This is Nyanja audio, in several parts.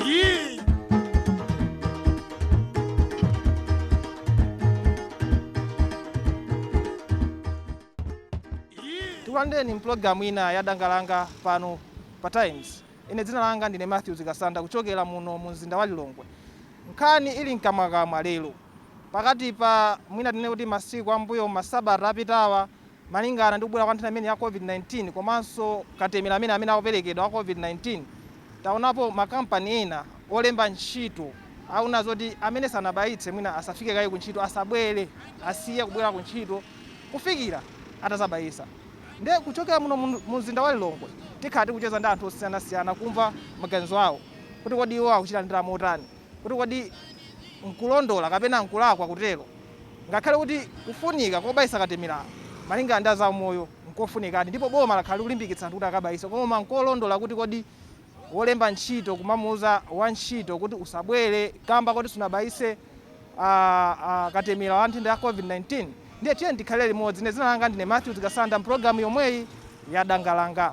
Yee! tikulandireni mpulogalamu ina ya Danga Langa pano pa times ine dzina langa ndine Mathews Kasanda kuchokera muno mu mzinda wa lilongwe nkhani ili mkamwakamwa lero pakati pa mwina tinene kuti masiku ambuyomu masabata apitawa Malingana ndi kubwera kwa nthenda imeneyi ya COVID-19 komanso katemera amene amene akuperekedwa wa COVID-19, taonapo makampani ena olemba ntchito amanena zoti amene sanabayitse mwina asafike kaye kuntchito, asabwere, asiye kubwera kuntchito kufikira atazabayitsa. Ndiye kuchokera muno mu mzinda wa Lilongwe tikhala tikucheza ndi anthu osiyanasiyana kumva maganizo awo kuti kodi iwo akuchilandira motani. kuti kodi nkolondola kapena nkolakwa kutero, ngakhale kuti kufunika kobayitsa katemera malingana ndi a zaumoyo nkofunikadi ndipo boma lakhala likulimbikitsa anthu kuti akabayitse, koma nkolondola kuti kodi wolemba ntchito kumamuuza wantchito kuti usabwere kamba koti sunabayitse katemera wa nthenda ya Covid-19? Ndiye tiyeni tikhalire limodzi. Ine dzina langa ndine Mathews Kasanda m'pulogalamu yomweyi ya Danga Langa.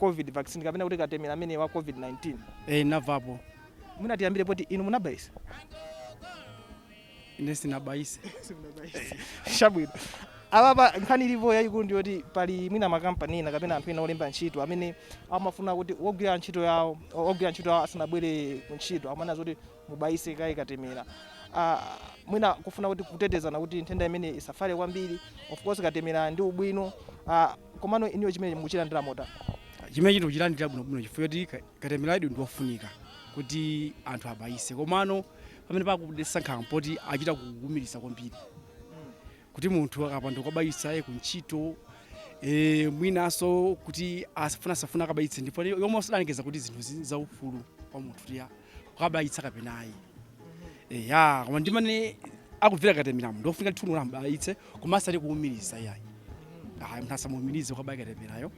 Covid vaccine kapena kuti katemera ameneyu wa Covid 19? Eh, namvapo. Mwina tiyambire poti inu munabayisa? Ine sinabayise. Chabwino. Apapa nkhani ilipo yayikulu ndi yoti pali mwina makampani ena kapena anthu ena olemba ntchito amene amafuna kuti wogwira ntchito yawo o- ogwira ntchito yawo asanabwere ku ntchito amanena zoti mubayise kaye katemera. Ah, mwina kufuna kuti kutetezana kuti nthenda imene isafale kwambiri. Of course katemera ndi wabwino. Ah, Komano inuyo chimenechi mukuchilandira motani? Chimenechi ndikuchilandira bwinobwino chifukwa choti ka- katemerayu ndi wofunika kuti anthu abayise komano pamene pakudetsa nkhawa mpoti achita kuumiriza kwambiri kuti munthu akapanda kukabayisa ye kuntchito e, mwinanso kuti asafuna asafuna akabayitse ndi pomwe adalengeza kuti zinthu zi- zaufulu kwa munthu eya kukabayitsa kapena ayi eya koma ndimmene nikumvera katemerayu ndofunika ndithu kuti abayitse koma asati kuumiriza iyayi ayi munthu asamuumirize kukabayi katemerayo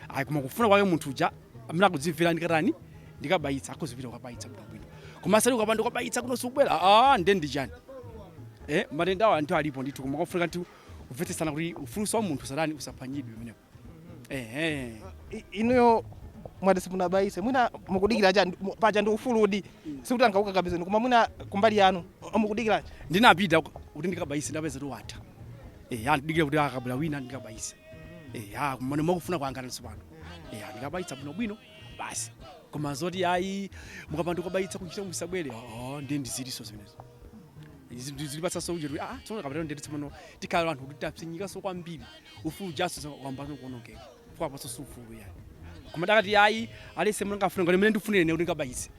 ayi koma kufuna kwake munthu uja amene akudzimvera ndikatani ndikabayitsa akazipita kukabayitsa bwinobwino koma asati ukapanda kukabayitsa kuno sukubwera a nde ndi chani eh matendawa ndithu alipo ndithu koma kufunika ndithu kumvetsetsana kuti ufuluso wa munthu usatani usaphwanyidwe umenewo ehe I- inuyo mwati simunabayise mwina mukudikira chani Mu- paja ndi ufuludi sikuti angakukakamizeni koma mwina kumbali yanu o, mukudikira chani ndinapita ku- kuti ndikabayise ndapeza kuti watha eya ndidikira kuti akabwera wina ndikabayise eya komano mwakufuna kwanga nanso pano eya ndikabayitsa bwinobwino basi koma zoti ayi mukapanda kubayitsa kuntchito musabwere oo ndiye ndi zinaso zimenezo zikupatsaso ujeti aa tsono kapatano ndeti pano tikhala anthu kuti tapsinyikanso kwambiri ufulu ujaso wayambano kuonongeka kwapasa si ufulu yayi koma adakati ayi aliyense mulanga afuna ngati mmene ndifunira ine kuti ndikabayitse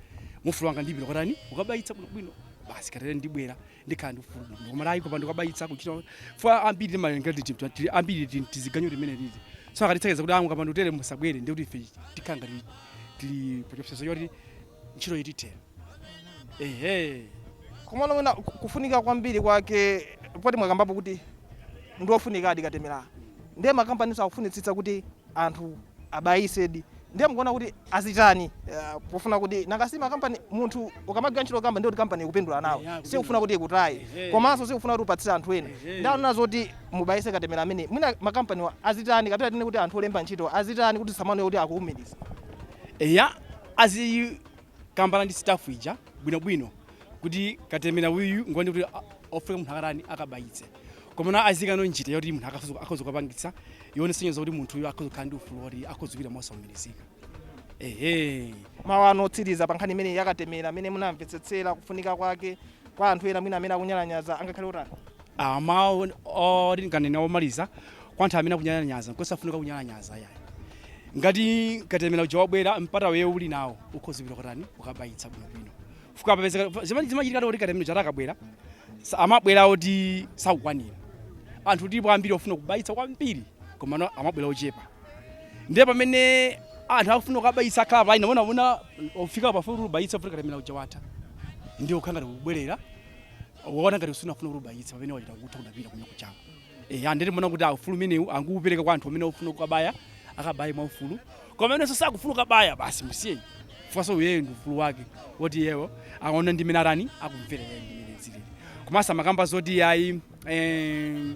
mwa ufulu wanga ndipita kutani kukabayitsa bwino bwino basi ndikatere ndibwera ndikhala ndi ufulu bwino koma ayi kupanda kukabayitsa kuchita fwa ambiri timalenga ndi chipta tili ambiri ti- tiziganyo limene lili so akatitsekeza kuti mukapanda kutere musabwere ndi kuti ife tikhala ngati tili pachopsezo choti ntchito itithera ehe komano mwina ku- kufunika kwambiri kwake poti mwakambapo kuti ndi ofunikadi katemera ndiye makampaniso akufunitsitsa kuti anthu abayisedi ndiye mukuona kuti azitani eh, pofuna kuti nanga si makampani munthu ukamagwira ntchito kamba ndiye kuti kampani ikupindula nawe Yeah, akupindula. sikufuna kuti ikutaye Ehe. komanso sikufuna kuti upatsire anthu ena Ehe. ndaona zoti mubayise katemera amene mwina makampaniwa azitani kapena tinene kuti anthu olemba ntchito azitani kuti zisamaoneke kuti akuwumiriza eya azikambana ndi staff ija bwinobwino kuti katemera uyu ngwani kuti a- ofunika munthu akatani akabayitse komano aziikano njira yoti munthu akhoza- akhoza kupangitsa yosonyeza kuti munthuyo akhoza kukhala ndi ufulu woti akhoza kupita mosaumirizika ehe mawu anu otsiriza pa nkhani imeneyi ya katemera ameneyu munamvetsetsera kufunika kwake kwa anthu ena mwina amene akunyalanyaza angakhale otani? A, mawu oti ndinganene omaliza kwa anthu amene akunyalanyaza nkosafunika kunyalanyaza yayi ngati katemera uja wabwera mpata iwe uli nawo ukhoza kupita kutani kukabayitsa bwinobwino fukwa papezeka zimene zimachitika kuti katemera uja akabwera sa- amabwera oti sakukwanira anthu alipo ambiri ofuna kubayitsa kwambiri komano amabwera ochepa ndiye pamene anthu akufuna kukabayitsa akhala pa line mona mona wafika pafupi kuti ubayitse pafupi katemera uja watha ndiye ukhala ngati kubwerera waona ngati usina kufuna kuti ubayitse pamene wachita kutha kudapita kunya kuchako eya ndiye timaona kuti ufulu umenewu angoupereka kwa anthu amene ofuna kukabaya akabaye mwa ufulu koma amenenso sakufuna kukabaya basi musiyeni fukwaso iyeyo ndi ufulu wake woti iyewo aona ndi mene atani akumvera iyeyo ndi mene zilili komanso amakamba zoti ayi eh,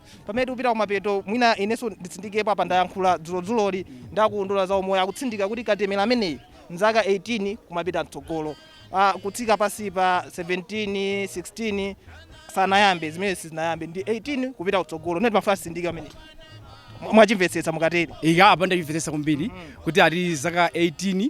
Pamene tikupita kumapeto mwina inenso nditsindikepo apa ndayankhula dzulo dzuloli ndi a ku unduna wa za umoyo akutsindika kuti katemera ameneyu n'zaka 18 kumapita mtsogolo kutsika pansi pa 17, 16 sanayambe zimenezo sizinayambe ndi 18 kupita kutsogolo ndiye ndimafuna nditsindike pamenepo mwachimvetsetsa mukatere. Eya apa ndachimvetsetsa kwambiri kuti ali zaka 18.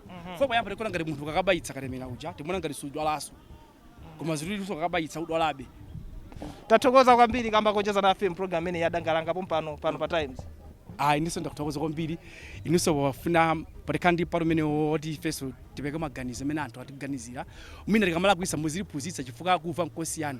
fukwa poyamba timaona ngati munthu akakabayitsa katemera uja timaona ngati sudwalanso koma zililiso ukakabayitsa udwalabe tathokoza kwambiri kamba kocheza nafe mpulogalamu imeneyi ya Danga Langa pompano pano pa times ayi inenso ndakuthokoza kwambiri inunso wafuna pazikhala ndi mpata umene woti ifenso tipereke maganizo amene anthu atiganizira mwina tikamalakwitsa muzitiphunzitsa chifukwa kumva nkosiyana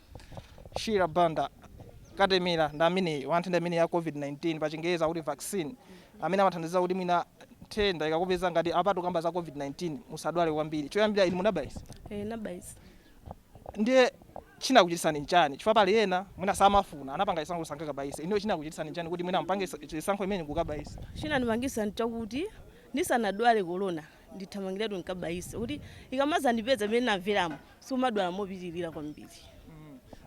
Shira Banda, katemera ndi ameneyu wa nthenda imeneyi ya COVID-19, pachingerezi akuti vaccine, amene amathandiza kuti mwina nthenda ikakupeza ngati apa tikukamba za COVID-19 musadwale kwambiri. Choyambirira inu munabayitsa? Eh, nnabayitsa. Ndiye chinakuchititsani n'chani? Chifukwa pali ena mwina samafuna, anapanga chisankho choti sangakabayitse. Inuyo chinakuchititsani n'chani kuti mwina mupange chisankho chimenechi n'kukabayitsa? Chinandipangitsa n'chakuti ndisanadwale Corona ndithamangiretu ndikabayise kuti ikamadzandipeza mmene ndinamveramo sumadwala mopitirira kwambiri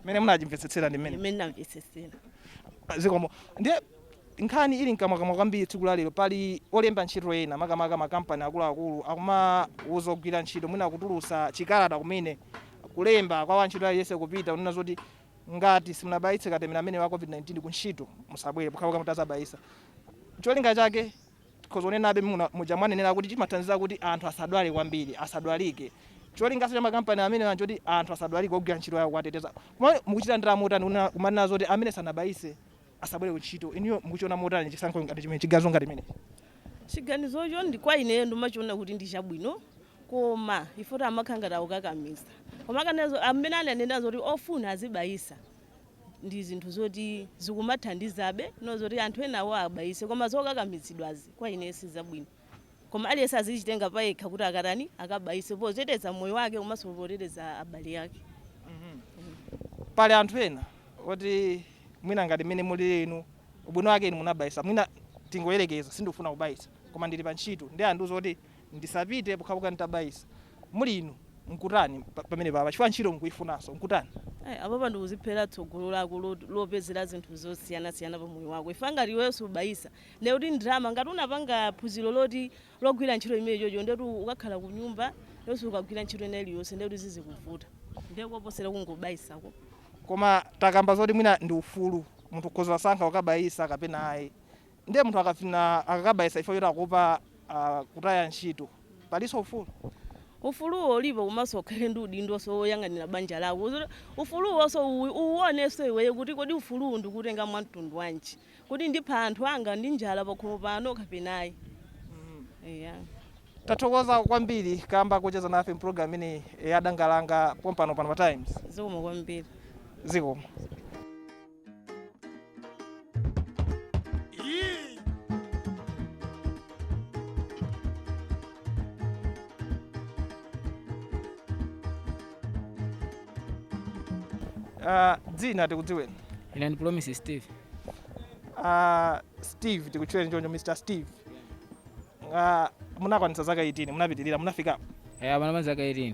mmene munachimvetsetsera ndi mmene ndinamvetsetsera zikomo ndiye nkhani ili mkamwakamwa kwambiri tsiku la lero pali olemba ntchito ena makamaka makampani akuluakulu akumauza ogwira ntchito mwina kutulusa chikalata kumene kulemba kwa wantchito aliyense kupita kunena zoti ngati simunabayitse katemera ameneyu wa covid-19 ku ntchito musabwere pokhapokha mutazabayisa cholinga chake Nkhoza kunenabe muja mwanenera kuti chimathandiza kuti anthu asadwale kwambiri, asadwalike. Cholinganso cha makampani amenewa nchoti anthu asadwalike ogwira ntchito yawo kuwateteza. Komano mukuchilandira motani kunena kumanena zoti amene sanabayise asabwere kuntchito? Inuyo mukuchiona motani chisankho ngati chimenechi, chiganizo ngati chimenechi? Chiganizocho ndi kwa ineyo ndimachiona kuti ndi chabwino koma ifeyo oti amakhala ngati akukakamiza. Koma akanena zo, amene ananena zoti ofuna azibayisa ndi zinthu zoti zikumathandizabe ndi zoti anthu enawo abayise koma zokakamizidwazi kwa ine sizabwino koma aliyense azichitenga payekha kuti akatani akabayise poteteza moyo wake komanso poteteza abale ake pali anthu ena oti mwina ngati mmene mulili inu ubwino wake inu munabayisa mwina tingoyerekeza sindikufuna kubayisa koma ndili pa ntchito ndiye andiuza kuti ndisapite pokhapokha nditabayisa. Muli inu, mungatani pamenepapa chifukwa ntchito mukuyifunanso, mungatani? Ai, apapa ndikuziphera tsogolo lako lopezera zinthu zosiyanasiyana pa moyo wako chifukwa ngati iweyo subayisa ndiye kuti ndalama, ngati unapanga phunziro loti logwira ntchito imene chocho ndiye kuti ukakhala kunyumba ndiye kuti sukagwira ntchito ina iliyonse ndiye kuti zizikuvuta ndiye kuposera kungobayisako. Koma takamba zoti mwina ndi ufulu, munthu ukhoza kusankha kukabayisa kapena ayi. Ndiye munthu akafna akakabayitsa chifukwa choti akuopa kutaya ntchito palinso ufulu? Ufuluwo ulipo komanso ukhale ndi udindonso woyang'anira banja lako. Ufuluwonso uwuonenso iweyo kuti kodi ufuluwu ndikuwutenga mwa mtundu wanji. Kodi ndipha anthu anga ndi njala pakhomo pano kapena ayi. Eya. Tathokoza kwambiri kamba kocheza nafe mpulogalamu imeneyi ya Danga Langa pompano pa Times. Zikomo kwambiri. Zikomo. Yee! Ah, dzina tikudziweni ine ndi Promise Steve Ah, Steve tikutchuleni choncho Mr Steve Ah, munakwanitsa zaka 18 munapitirira munafikapo Eh, apana mazaka 18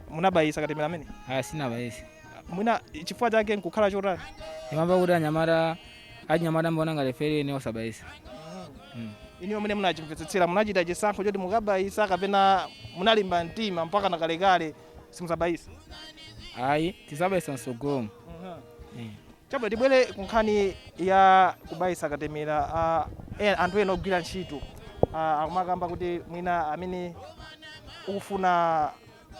munabayisa katemera amene aya sindinabayise mwina chifukwa chake nkukhala chotani imamba kuti anyamata achinyamata mwina ngati free ine osabayisa Mm. inuyo mmene munachimvetsetsera munachita chisankho choti mukabayisa kapena munalimba mtima mpaka nakalekale simuzabayisa ayi tizabayisa msogolo Chabwino, tibwere ku nkhani ya kubayitsa katemera. Anthu ena ogwira ntchito akumakamba kuti mwina amene ukufuna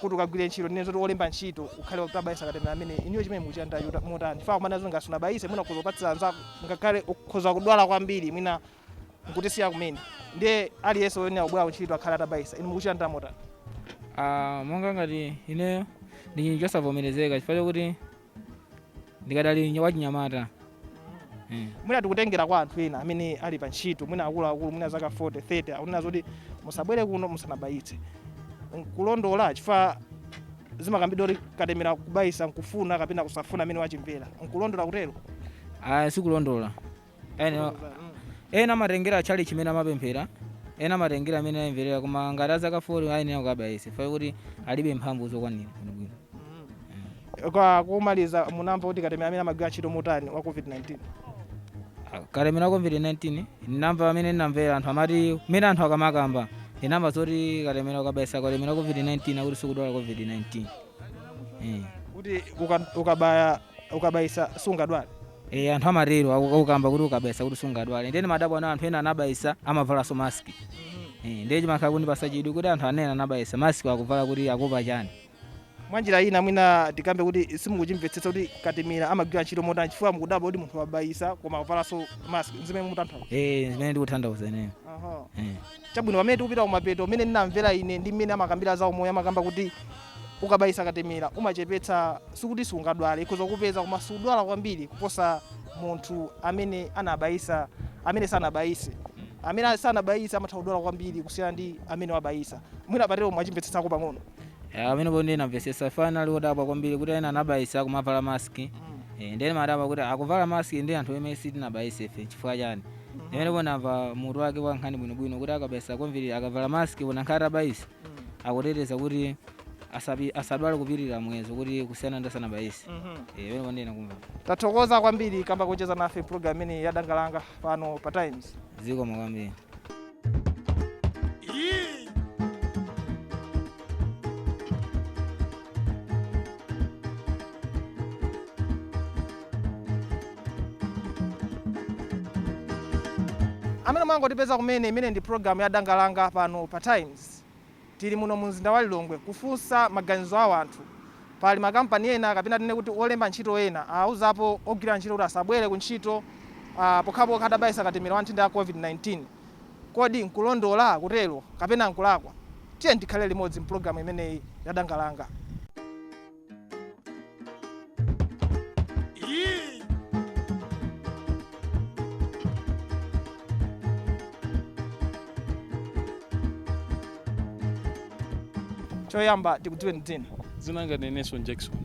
kuti ukagwire ntchito, ndinene zoti olemba ntchito, ukhale utabayitsa katemera ameneyi. Inuyo chimenechi mukuchilandira motani? Chifukwa akumanena zoti ngati sunabayitse mwina ukhoza kupatsira anzako, ngakhale ukhoza kudwala kwambiri mwina n'kutisiya kumene. Ndiye aliyense woyenera kubwera ku ntchito akhale atabayitsa. Inu mukuchilandira motani? Monga ngati ineyo, ndi chosavomerezeka chifukwa chokuti. ndikadali nya- wachinyamata Eh. mwina tikutengera kwa anthu ena amene ali pa ntchito mwina akuluakulu mwina zaka 40 30 akunena zoti musabwere kuno musanabayitse nkulondola chifukwa zimakambidwa kuti katemera kubayisa nkufuna kapena kusafuna amene wachimvera nkulondola kutero aya sikulondola ena ena amatengera a tchalitchi mmene amapemphera ena amatengera amene ayimvera koma ngati azaka 40 ayenera kukabayisa chifukwa kuti alibe mphamvu zokwanira bwinobwino kwa kumaliza munamva kuti katemera amene amagwira ntchito motani wa covid-19 Ah, katemera wa covid-19 ndinamva amene ndinamvera anthu amati mmene anthu akamakamba ndinamva zoti katemera ukabayisa katemera wa covid-19 akuti sikudwala covid-19 eh. kuti uka- ukabaya ukabayisa sungadwale? Eh anthu amatero aku- akukamba kuti ukabayisa kuti sungadwale ndiye ndimadabwa na anthu ena anabayisa amavalanso mask Eh, ndiye chimakhala kundipasa chidwi kuti anthu ena anabayisa mask akuvala kuti akuopa chani mwanjira ina mwina tikambe kuti simukuchimvetsetsa kuti katemera amagwira ntchito motani chifukwa mukudabwa kuti munthu wabayisa koma akuvalanso mask zimene mutanthauza Eh, zimene ndikutanthauza ineyo Aha. Eh. Chabwino, pamene tikupita kumapeto, mmene ndinamvera ine ndi mmene amakambira za umoyo, amakamba kuti ukabayitsa katemera umachepetsa, sikuti siungadwale, ikhoza kukupeza koma siudwala kwambiri kuposa munthu amene anabayitsa, amene sanabayitse. Amene sanabayitse amatha kudwala kwambiri kusiyana ndi amene wabayitsa. Mwina patero mwachimvetsetsako pang'ono. Ya, pamenepo ndiye ndamvetsetsa chifukwa ndinali wodabwa kwambiri kuti ena anabayitsa kumavala mask. Eh, ndiye ndimadabwa kuti akuvala mask ndi anthu amene sitinabayitsefe chifukwa chani? Nde pamenepo ndamva mutu wake wa nkhani bwinobwino kuti akabayisa kwambiri akavala mask olo ngakhale atabayisa akuteteza kuti asapi- asadwale kupitirira muyezo kuti kusiyana ndi asanabayise. Eh, pamenepo ndiye ndamva. tathokoza kwambiri kamba kocheza nafe program imeneyi ya Danga Langa pano pa Times Zikomo kwambiri. Yee! amene mwangotipeza kumene imene ndi program ya Danga Langa pano pa Times Tili muno mu mzinda wa Lilongwe kufunsa maganizo a wanthu. Pali ma kampani ena kapena tinene kuti olemba ntchito ena awuzapo ogwira ntchito kuti asabwere ku ntchito pokhapokha atabayisa katemera wa nthenda ya COVID-19. Kodi nkulondola kutero kapena nkulakwa? Tiyeni tikhalire limodzi mpulogalamu imeneyi ya Danga Langa. Yee! choyamba tikudziweni dzina dzina langa ndine Nelson jackson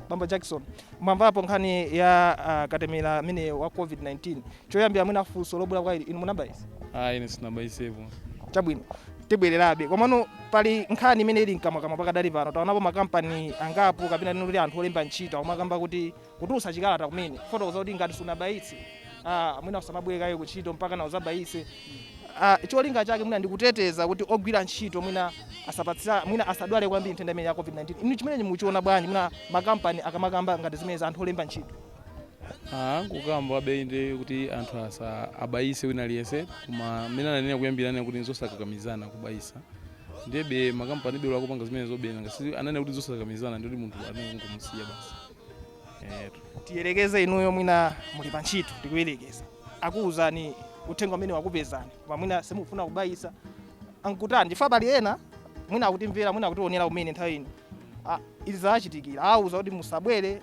bambo jackson mwamvapo nkhani ya uh, katemera ameneyu wa covid-19 Choyambira mwina funso lobwera kwa inu, inu munabayisa? Ayi, ine sinabayisepo. Chabwino, tibwererabe. Komano pali nkhani imene ili mkamwamkamwa pakadali pano. Taonapo makampani angapo kapena tinene kuti anthu olemba ntchito akumakamba kuti kutulutsa chikalata kumene kufotokoza kuti ngati sunabayitse ah, mwina usamabwere kaye ku ntchito mpaka na uzabayitse. Ah, cholinga chake mwina ndi kuteteza kuti ogwira ntchito mwina asapatsane mwina asadwale kwambiri nthenda imeneyi ya COVID-19. Inu chimenechi mukuchiona bwanji mwina makampani akamakamba ngati zimenezi anthu olemba ntchito? angokambabe inde kuti anthu asa abayise wina aliyense koma mmene ananena kuyambira anena kuti nzosakakamizana kubayisa ndebe makampani belo akupanga zimenezo bena ngati ananena kuti nzosakakamizana ndikuti munthu anene kungomusiya basi etu tiyerekeze inuyo mwina muli pa ntchito tikuyerekeza akuwuzani uthenga umenewu wakupezani koma mwina simufuna kubayisa mungatani chifukwa pali ena mwina akutimvera mwina akutionera kumene nthawi ino Ah, izi zawachitikira awawuza kuti musabwere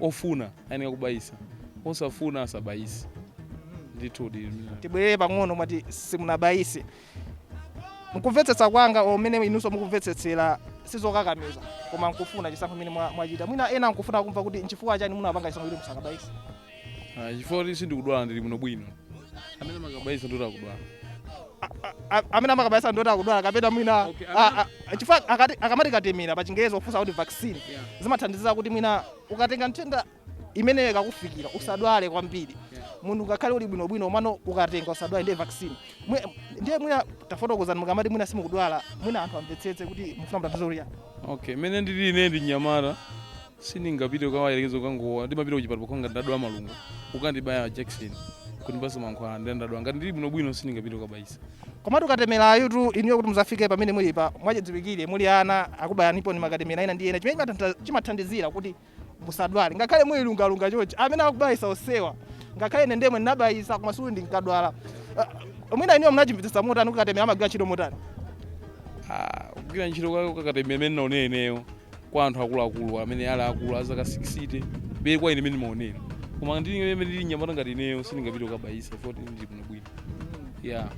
Ofuna ayeneka kubayisa, osafuna asabayise. Ndithudi. Tibwerere pang'ono, mwati simunabayise. Mkumvetsetsa kwanga or mmene inunso mukumvetsetsera sizokakamiza koma mkufuna chisankho chimene mwachita. Mwina ena mkufuna kumva kuti nchifukwa chani munapanga chisankho choti musakabayise. Chifukwa choti sindikudwala ndili bwinobwino. Amene amakabayisa ndiwoti akudwala. a- a- amene amakabayitsa ndi oti akudwala kapena mwina Okay, a- amene- a- chifukwa akati- akamati katemera pa chingerezi pofuna kuti vaccine Yeah. zimathandiza kuti mwina ukatenga nthenda imeneyo ikakufikira usadwale kwambiri Yeah. munthu ngakhale uli bwinobwino komano ukatenga usadwale ndiye vaccine Mwe- ndiye mwina tafotokozani mukamati mwina simukudwala mwina anthu amvetsetse kuti mufuna kutanthauza kuti okay mene ndili ine ndi mnyamata Sindingapite kukayerekeza kukangolowa ndimapita kuchipatala pokha ngati ndadwala malungo kukandibaya jakiseni kundipasa mankhwala ndiye ndadwala ngati ndili bwinobwino sindingapite kukabayisa. Komatu katemerayu tu inuyo kuti muzafike pamene mulipa mwachidziwikire muli ana akubayaniponi makatemera ena ndi ena chimene chimatantha- chimathandizira kuti musadwale ngakhale muli lungalunga chonchi amene akubayisa onsewa ngakhale ine ndemwe ndinabayisa koma sikuti ndinkadwala Ah, mwina inuyo munachimvetsetsa motani kuti katemera amagwira ntchito motani Ah, kugwira ntchito kwa kwa katemera mmene ndinaonera ineyo kwa anthu akuluakulu amene ali akulu a zaka 60 be kwa ine mmene ndimaonera koma ndi ine imene ndili nyamata ngati ineyo sindingapite kukabayisa poti ndili bwinobwino ya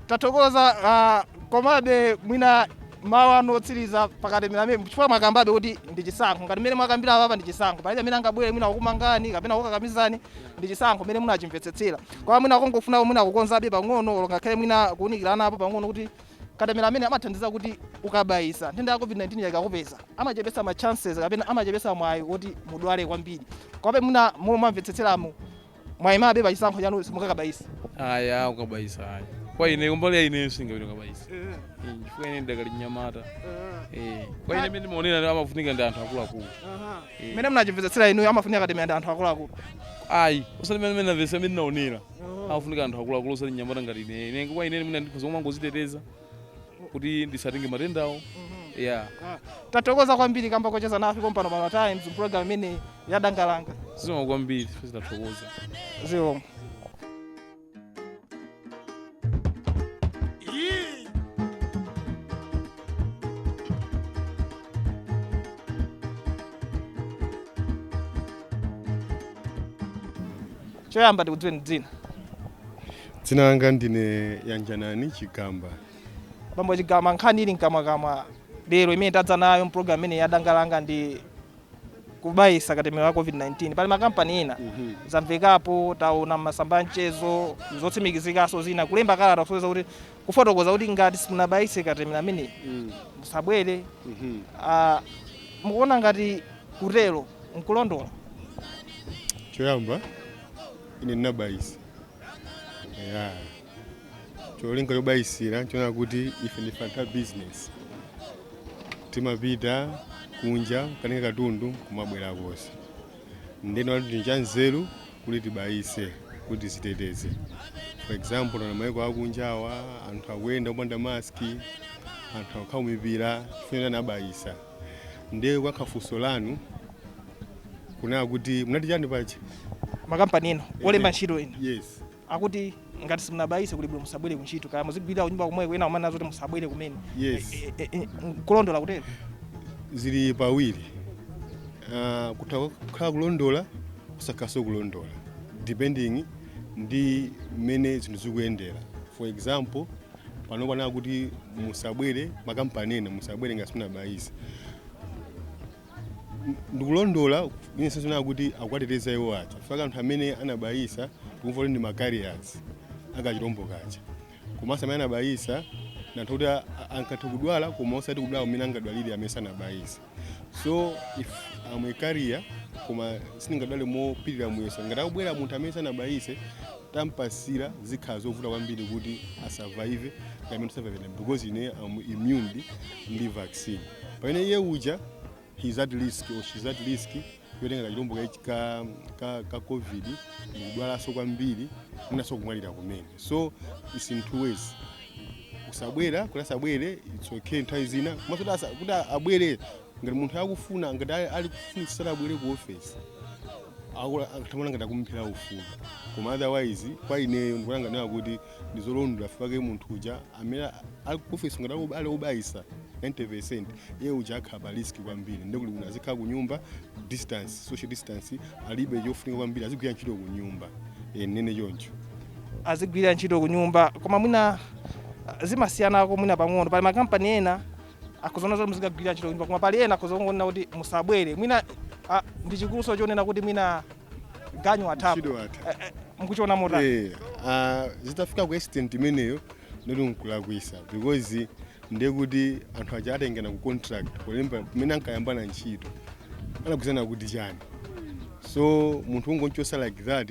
tathokoza ah, komabe mwina mawu anu otsiriza pakatemera ameneyu chifukwa mwakambabe kuti ndi chisankho ngati mmene mwakambira apa ndi chisankho palibe amene angabwere mwina kukumangani kapena kukakamizani ndi chisankho mmene munachimvetsetsera koma mwina kungofuna mwina kukonzabe pang'ono olo ngakhale mwina kuunikiranapo pang'ono kuti Katemera ameneyu amathandiza kuti ukabayitsa, nthenda ya COVID-19 ija ikakupeza, amachepetsa ma chances kapena amachepetsa mwayi woti mudwale kwambiri. Komabe mwina momwe mwamvetsetseramu, mwayimabe pa chisankho chanu simungakabayitse. Ayi, ayi, kukabayitsa ayi. Kwa ine, kumbali ya ineyo sindingapite kukabayitsa. Eh, Chifukwa ine ndidakali mnyamata. Eh, Kwa ine mmene ndimaonera amafunika ndi anthu akuluakulu. Mmene munachimvetsetsera inuyo amafunika katemera ndi anthu akuluakulu. Ayi, osati mmene ndinamvetsera, mmene ndinaonera. afunika anthu akuluakulu osati mnyamata ngati ine ine kwa ine mwina ndikhoza kumangoziteteza kuti ndisatenge matendawo ya tathokoza kwambiri kamba kocheza nafe pompano pa times program imeneyi ya Danga Langa zikomo kwambiri tathokoza zikomo Choyamba tikudziweni dzina. Dzina langa ndine Yanjanani Chigamba. Bambo Chigamba, nkhani ili mkamwakamwa lero imene tadza nayo mpulogalamu imeneyi ya Danga Langa ndi kubayisa katemera wa covid-19 pali makampani ena zamvekapo taona m'masamba a mchezo zotsimikizikanso zina kulemba kalata kusonyeza kuti kufotokoza kuti ngati simunabayitse katemera ameneyu mm. musabwere mm -hmm. uh, mukuona ngati kutero nkulondola choyamba ine ndinabayisa yeah. cholinga chobayisira choona kuti ife ndife anthu a business timapita kunja katenga katundu kumabwera konse ndinaona kuti ndi chanzeru kuti tibayise kuti tiziteteze for example na maiko akunjawa anthu akuyenda opanda maski anthu akukhala ku mipira chifukwa anabayisa ndiye kuyankha funso lanu kunena kuti munati chani paja makampani eni olemba ntchito yes akuti ngati simunabayise kuli bwino musabwere kuntchito kaya muzigwirira kunyumba komweko ena kumanena zoti musabwere kumene yes E- e- e- nkulondola kutero zili pawiri uh, kutha kukhala kulondola kusakhalanso kulondola depending ndi mmene zinthu zikuyendera for example panopa anena kuti musabwere makampani ena musabwere ngati simunabayise ndikulondola inenso ndikuona kuti akuwateteza iwo aja chifukwa anthu amene anabayisa tikumva kuti ndi macarriers akachilombo kaja komanso amene anabayisa ndi anthu kuti a- a- angathe kudwala koma osati kudwala kumene angadwalire amene sanabayisa so if I'm a carrier koma sindingadwale mopitirira muyeso ngati akubwera munthu amene sanabayise ntampatsira zikhala zovuta kwambiri kuti asurvive kamene survive because ine am immune ndi vaccine pamene iye uja he is at risk or she is at risk yotenga kachilombo ka, ka, ka, ka covid ndikudwalanso kwambiri mwinanso kumwalira kumene so it's in two ways kusabwera kuti asabwere it's okay nthawi zina komanso kuti asa- kuti abwere ngati munthu akufuna ngati ali- ali kufunitsitsa abwere ku ofesi akula- akathamana ngati akumphera ufulu koma otherwise kwa ineyo ndikulanganira kuti ndizolondola chifukwa munthu uja amene ali ku ofesi ngati ali- ali obayisa 90 percent iye uja akhala pa risk kwambiri ndikuti kuti azikhala ku nyumba distance social distance alibe chofunika kwambiri azigwira ntchito ku nyumba Eh, nene choncho azigwira ntchito ku nyumba koma mwina ah, zimasiyanako mwina pang'ono pali makampani ena akhoza kuona zoti muzikagwirira ntchito kunyumba koma pali ena akhoza kungonena kuti musabwere mwina ah, ndi chikuluso chonena kuti mwina ganyu athapo Ntchito atha. Eh, eh, mukuchiona motani Eh, ah, zitafika ku extent imeneyo ndoti nkulakwitsa because ndiye kuti anthu aja atangena ku contract kulemba pamene ankayambana ntchito anagwirizana kuti chani so munthu kungomchotsa like that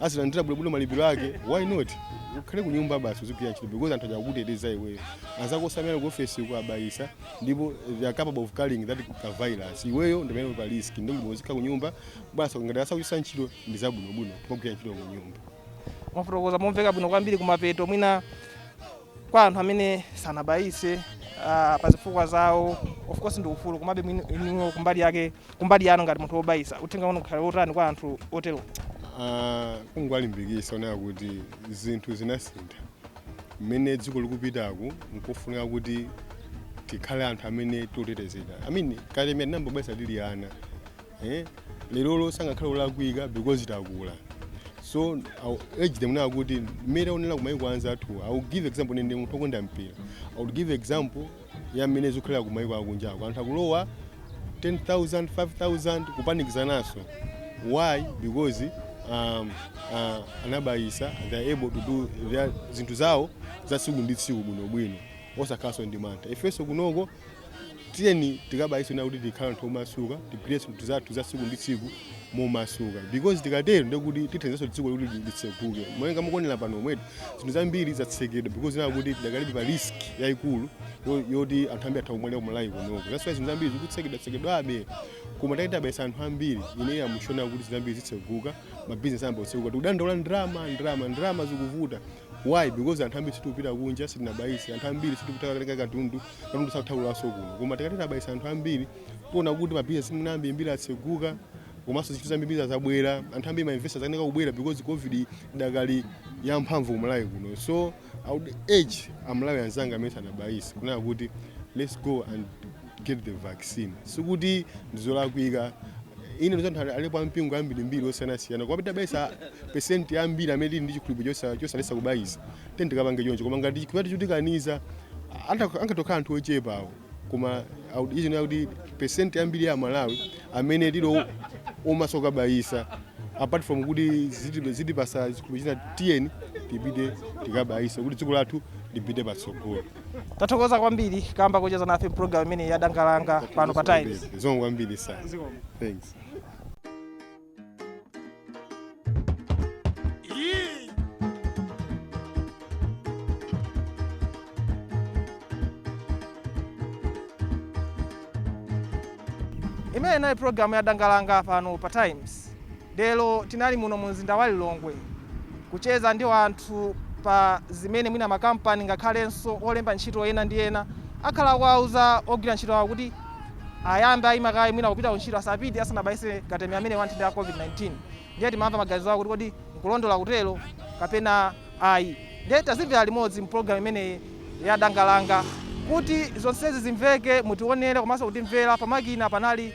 azilandira bwinobwino malipiro ake why not ukhale ku nyumba basi uzigwira ntchito because anthu aja akuteteza iweyo anzako osamera ku ofesi uko abayisa ndipo they are capable of carrying that ka virus iweyo ndi amene pa risk ndi bwino uzikhala ku nyumba basi ngati sakukuchotsa ntchito ndi zabwinobwino kumagwira ntchito ku nyumba mwafotokoza momveka bwino kwambiri kumapeto mwina Kwa anthu amene sanabayise uh, pa zifukwa zawo of course ndi ufulu komabe inuyo kumbali yake kumbali yanu ngati munthu wobayisa uthenga wanu ukhale wotani kwa anthu otero uh, kungowalimbikitsa poona kuti zinthu zinasintha mmene dziko likupitaku nkofunika kuti tikhale anthu amene tiotetezedwa mmene katemera tinambobayisa tili ana eh? lerolo sangakhale olakwika because takula so I'll urge them now kuti mmene taonera kumayiko anzathu i will give example ine ndi munthu okonda mpira i will give example ya mmene zikukhalira kumayiko akunjako anthu akulowa 10000 5000 kupanikizananso why because um, uh, anabayisa they are able to do their zinthu zawo za tsiku ndi tsiku bwinobwino osakhalanso ndi mantha ifenso kunoko tiyeni tikabayise cholinga kuti tikhala anthu omasuka tigwire zinthu zathu za tsiku ndi tsiku momasuka because tikatero ndekuti tithandizaso dziko kuti litseguke malinga mukuonera pano mmenemu zinthu zambiri zatsekedwa because kunena kuti tidakalibe pa risk yayikulu yo- yoti anthu ambiri atha kumwalira ku Malawi kunoko that's why zinthu zambiri zikutsekedwa tsekedwabe koma titati tabayisa anthu ambiri ineyi I'm sure kunena kuti zinthu zambiri zitseguka mabizinesi ayamba kutseguka tikudandaula ndrama ndrama ndrama zikuvuta Why? Because anthu ambiri sitikupita kunja sitinabayise, anthu ambiri sitikupita kukatenga katundu, katundu sakutha kulowaso kuno. Koma titati tabayisa anthu ambiri, tiona kuti ma business mwina ambirimbiri atseguka, komanso zinthu zambirimbiri zabwera, anthu ambiri ma investors akukanika kubwera because COVID idakali yamphamvu ku Malawi kuno. So I would urge a Malawi anzanga amene sanabayise kunena kuti let's go and get the vaccine sikuti ndizolakwika ine ndikudziwa kuti alipo ampingo ambirimbiri osiyanasiyana koma pitabayisa pesenti yambiri amene tili ndi chikhulupiriro chosa- chosalesa kubayisa tiyeni tikapange choncho koma ngati chikhulupiriro chotikaniza anta- angatokhala anthu ochepawo koma awu- izi ndiye kuti pesenti yambiri ya malawi amene tili o- omasuka kubayisa apart from kuti ziti- zitipasa chikhulupiriro china tiyeni tipite tikabayisa kuti dziko lathu lipite patsogolo Tathokoza kwambiri kamba kocheza nafe mpulogalamu imeneyi ya danga langa pano pa Times. Zikomo kwambiri sana. Thanks. Imeneyo inali pulogalamu ya danga langa pano pa Times. Lero tinali muno mu mzinda wa Lilongwe kucheza ndi anthu pa zimene mwina makampani ngakhalenso olemba ntchito ena ndi ena akhala akuwauza ogwira ntchito awo kuti ayambe aimika kaye mwina kupita ku ntchito asapite asanabayitse katemera ameneyu wa nthenda ya COVID-19 ndiye timamva maganizo awo kuti kodi nkulondola kutero kapena ayi ndiye tazimvera limodzi mu pulogalamu imeneyi ya Danga Langa. Kuti zonsezi zimveke, mutionere komanso kutimvera pamakina panali.